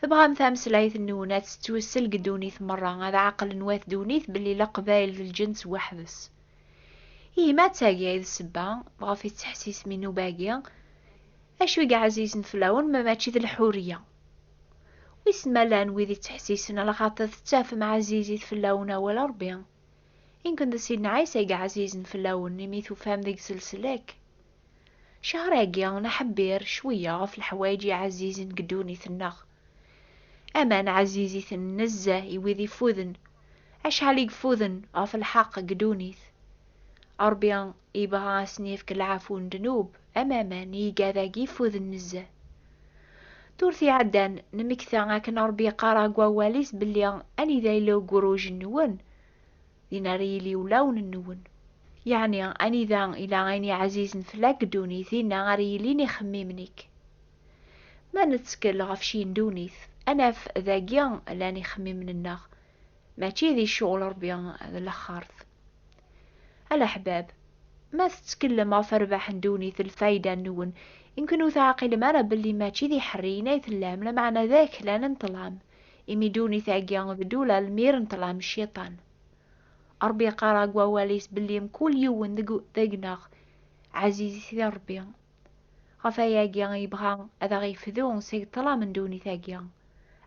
Tebɣam tameslayt-nwen ad tettwessel deg ddunit merra, ad ɛeqlen wat ddunit belli Leqbayel d lǧens weḥd-s. Ihi ma d tagi ay d ssebba ɣef i tettḥessisem inuba-agi, acu i yeɛzizen fell-awen ma mačči d lḥuriya? Wissen ma llan wid yettḥessisen ala xaṭer tettafem ɛzizit fell-awen awal Rebbi? Inken d Sidna Ɛisa i yeɛzizen fell-awen imi tufam deg-s leslak. Cehṛ-agi nḥebbir cweyya ɣef leḥwayeǧ iɛezzizen deg ddunit-nneɣ. Aman ɛezziz-iten nezzeh i wid ifuden, acḥal i ifuden ɣef lḥeqq deg ddunit. Ṛebbi yebɣa a sen-yefk lɛafu n ddnub am aman i igadagi ifuden nezzeh. Durt iɛeddan nemmekta akken Ṛebbi yeqqar ag wawal-is belli anida yella ugruj-nwen, din ara yili ulawen-nwen. Yeɛni, anida ila ayen iɛzizen fell-ak ddunit, dinna ara yilin ixemmimen-ik. Ma nettkel ɣef cci n ddunit, ad naf dagi llan ixemmimen-nneɣ, mačči di ccɣel Ṛebbi d laxert. A leḥbab, ma tettkellem ɣef rrbeḥ n ddunit d lfayda-nwen, yemkin ur teɛqilem ara belli mačči d iḥerriyen ay tellam, lameɛna d aklan n ṭṭlam. imi dunit-agi d dul almir n ṭṭlam n cciṭan. Ṛebbi yeqqar ag wawal-is belli mkul yiwen deg deg-neɣ ɛzizit di Ṛebbi. Ɣef ayagi yebɣa ad aɣ-yefdu seg ṭṭlam n dunit-agi,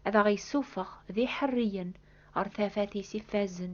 ad aɣ-yessufeɣ d iḥerriyen ɣer tafat-is iffazen.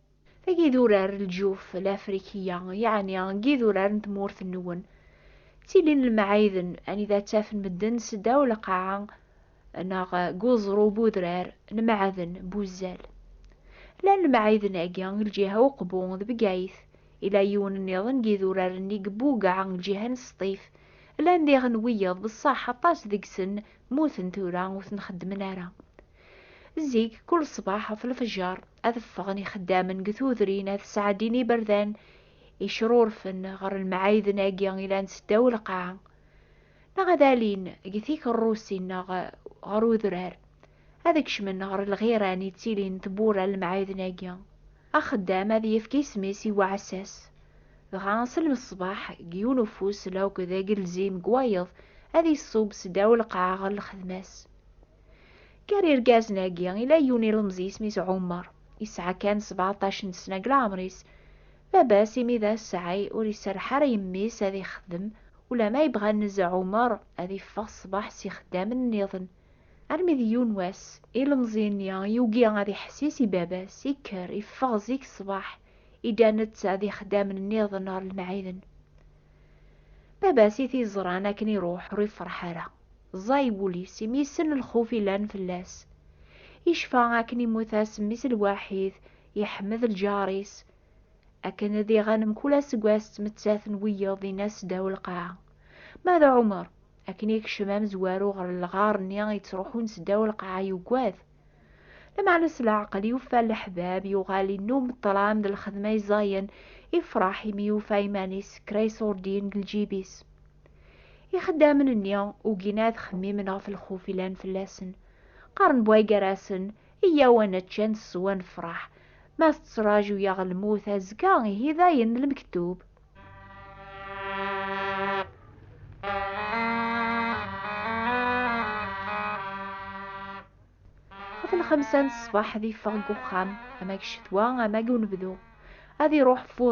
Tagi d urar n lǧuf lafrikiya, yeɛni n yidurar n tmurt-nwen. Ttilin lemɛayden anida ttafen medden seddaw lqaɛa neɣ deg uẓru bu udrar n meɛden bu zzal. Llan lemɛayden-agi deg lǧiha Uqbu d Bgayet, yella yiwen nniḍen n yidurar-nni deg Bugaɛ deg lǧiha n Sṭif. Llan diɣen wiyaḍ, beṣṣaḥ aṭas deg-sen mmuten tura ur ten-xeddmen ara. Zik, kul ṣṣbeḥ ɣef lfejjar, ad ffɣen ixeddamen deg tudrin ad sɛeddin iberdan icrurfen ɣer lmɛayden-agi ilan seddaw lqaɛa neɣ ad alin deg tikerrusin neɣ ɣer udrar ad kecmen ɣer lɣiran yettilin tewwura lemɛayden-agi axeddam ad yefk isem-is i uɛessas dɣa s lmeṣbaḥ deg yiwen ufus lawk d agelzim deg wayeḍ ad iṣub seddaw lqaɛa ɣer lxedma-s Gar irgazen-agi, ila yiwen ilemẓi isem-is Ɛumer, yesɛa kan sbeɛṭac n ssna deg leɛmer-is. Baba-s, imi d asɛi, ur iserreḥ ara yemmi-s ad ixdem, ulamma yebɣa nez Ɛumer ad iffeɣ ṣṣbeḥ s yixeddamen nniḍen. Armi d yiwen wass, ilemẓi-nni yugi ad iḥessis i baba-s, ikker, iffeɣ zik ṣṣbeḥ, idda netta d yixeddamen nniḍen ɣer lemɛiden. Baba-s i t-iẓran akken iruḥ, ur ifreḥ ara. Ẓẓay wul-is imi yessen lxuf yellan fell-as. Yecfa akken immut-as mmi-s lwaḥid, iḥmed lǧar-is. Akken ad iɣan mkul aseggas d tmettat n wiyeḍ dinna seddaw lqaɛa. Ma d Ɛumer, akken yekcem amezwaru ɣer lɣar-nni yettruḥun seddaw lqaɛa yugad. Lameɛna s leɛqel yufa leḥbab, yuɣal innum ṭṭlam d lxedma iẓẓayen, ifreḥ imi yufa iman-is kra iṣurdiyen deg lǧib-is. Ixeddamen-nni ugin ad xemmimen ɣef lxuf ilan fell-asen. Qqaren bway gar-asen, Iyyaw ad nečč, ad nessew, ad nefreḥ. Ma tettraǧu-yaɣ lmut azekka, ihi dayen lmektub. ɣef lxemsa n ṣṣbeḥ ad iffeɣ deg uxxam ama deg ccetwa ama deg unebdu ad iruḥ fuḍ